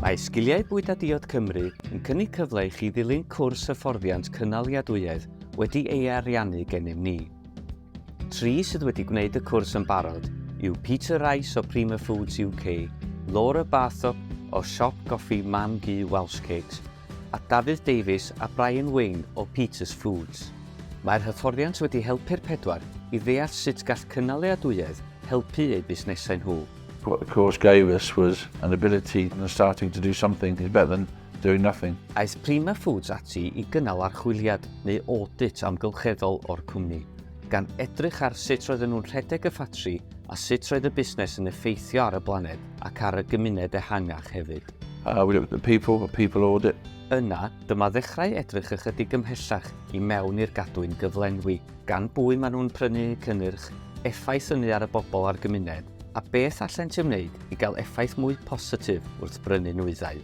Mae Sgiliau Bwyd a Diod Cymru yn cynnig cyfle i chi ddilyn cwrs hyfforddiant cynaliadwyedd wedi ei ariannu gennym ni. Tri sydd wedi gwneud y cwrs yn barod yw Peter Rice o Prima Foods UK, Laura Barthop o siop goffi Mam Gu Welsh Cakes a Dafydd Davies a Brian Wayne o Peters Foods. Mae'r hyfforddiant wedi helpu'r pedwar i ddeall sut gall cynaliadwyedd helpu eu busnesau nhw. What the course gave us was an ability and starting to do something is better than doing nothing. Aeth Prima Foods ati i gynnal archwiliad neu audit amgylcheddol o'r cwmni, gan edrych ar sut roedden nhw'n rhedeg y ffatri A sut roedd y busnes yn effeithio ar y blaned ac ar y gymuned ehangach hefyd? Uh, we looked at the people, a people audit. Yna, dyma ddechrau edrych ychydig ymhellach i mewn i'r gadwyn gyflenwi, gan bwy maen nhw'n prynu cynnyrch, effaith ynnu ar y bobl a'r gymuned, a beth allent ymwneud i gael effaith mwy positif wrth brynu nwyddau.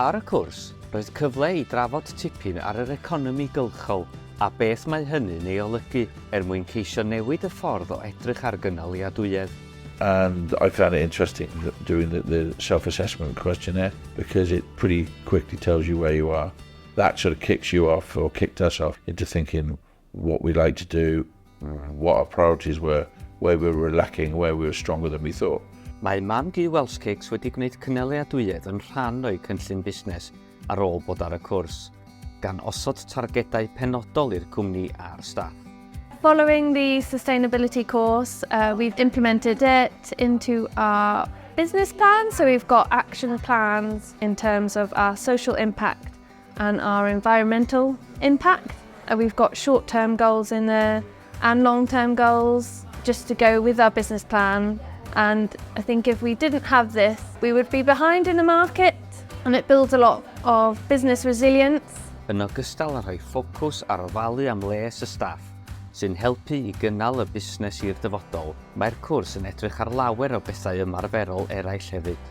Ar y cwrs, roedd cyfle i drafod tipyn ar yr economi gylchol a beth mae hynny'n ei olygu er mwyn ceisio newid y ffordd o edrych ar gynaliadwyedd. And I found it interesting doing the, the self-assessment questionnaire because it pretty quickly tells you where you are. That sort of kicks you off, or kicked us off, into thinking, what we like to do, what our priorities were, where we were lacking, where we were stronger than we thought. Mae Mam Du Welsh Cakes wedi gwneud cynaliadwyedd yn rhan o'i cynllun busnes ar ôl bod ar y cwrs, gan osod targedau penodol i'r cwmni a'r staff. Following the sustainability course, uh, we've implemented it into our business plan. So we've got action plans in terms of our social impact and our environmental impact and we've got short term goals in there and long term goals just to go with our business plan and I think if we didn't have this we would be behind in the market and it builds a lot of business resilience yn ogystal â rhoi ffocws ar ofalu am les y staff, sy'n helpu i gynnal y busnes i'r dyfodol. Mae'r cwrs yn edrych ar lawer o bethau ymarferol eraill hefyd.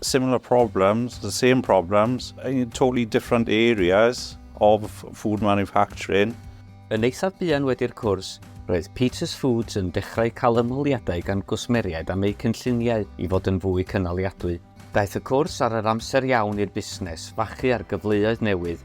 similar problems, the same problems, in totally different areas of food manufacturing. Yn eithaf buan wedi'r cwrs, roedd Peters Foods yn dechrau cael ymholiadau gan gwsmeriaid am eu cynlluniau i fod yn fwy cynaliadwy. Daeth y cwrs ar yr amser iawn i'r busnes fachu ar gyfleoedd newydd